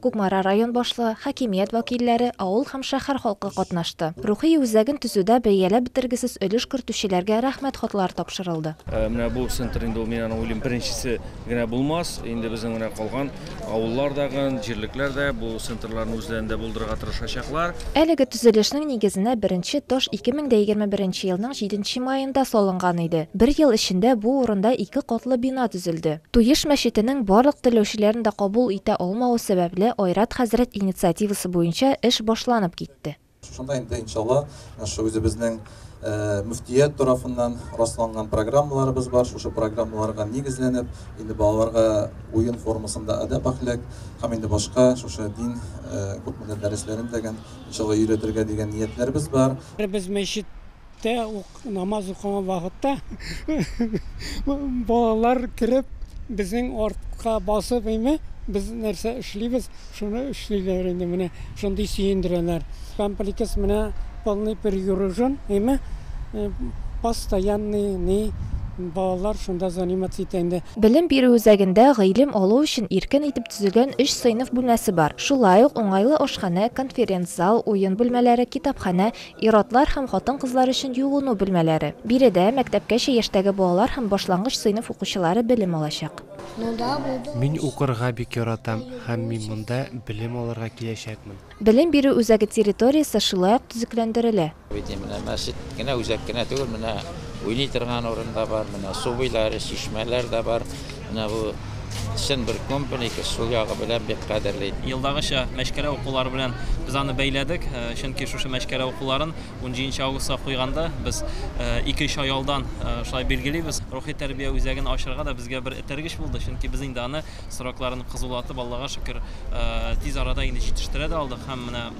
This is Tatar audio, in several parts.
Кукмара район башлыгы, хакимият вәкилләре, авыл һәм шәһәр халкы катнашты. Рухи үзәген төзүдә бәяләп бетергесез өлеш кертүчеләргә Рәхмәт хатлары тапшырылды. Менә бу центр инде ул, мин аны уйлыйм, беренчесе генә булмас. Инде безнең менә калган авыллар да гын, җирлекләр дә бу центрларны үзләрендә булдырырга тырышачаклар. Әлеге төзелешнең нигезенә беренче таш 2021 елның җиденче маенда салынган иде. Бер ел эчендә бу урында ике катлы бина төзелде. Туеш мәчетенең барлык теләүчеләрен дә кабул итә алмавы сәбәпле, Айрат хәзрәт инициативасы буенча эш башланып китте. Шунда инде, иншалла, шушы үзебезнең мөфтият тарафыннан расланган программаларыбыз бар. Шушы программаларга нигезләнеп, инде балаларга уен формасында әдәп-әхлак һәм инде башка шушы дин күпмедер дәресләрен дә, иншалла, өйрәтергә дигән ниятләребез бар. Без мәчет Иртә үк намаз укыган вакытта балалар кереп безнең артка басып име без нәрсә эшлибез шуны эшлиләр инде менә шундый сөендерәләр комплекс менә полный перегружен име постоянный ни балалар шунда заниматься итә инде. Белем бирү үзәгендә гыйлем алу өчен иркен итеп төзелгән өч сыйныф бүлмәсе бар. Шулай ук уңайлы ашханә, конференц-зал, уен бүлмәләре, китапханә, Ир-атлар һәм хатын-кызлар өчен юыну бүлмәләре. Биредә мәктәпкәчә яшьтәге балалар һәм башлангыч сыйныф укучылары белем алачак. Мин укырга бик яратам һәм мин монда белем алырга киләчәкмен. Белем бирү үзәге территориясе шулай ук төзекләндерелә. Менә мәчет кенә, үзәк кенә түгел, менә уйный торган урын да бар, менә су буйлары, чишмәләр дә бар. Менә бу чын бер компаника, шул ягы белән бик кадерле. Елдагыча мәчкәрә укулары белән без аны бәйләдек, чөнки шушы мәчкәрә укуларын унҗиденче августка куйганда без ике чай алдан шулай билгелибез. Рухи тәрбия үзәген ачырга да безгә бер этәргеч булды, чөнки без инде аны срокларын кызулатып, Аллага шөкер, тиз арада инде җитештерә дә алдык һәм менә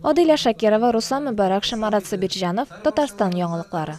Адилә Шакирова, Руслан Мөбарәк, Шамарат Сабирҗанов, Татарстан яңалыклары.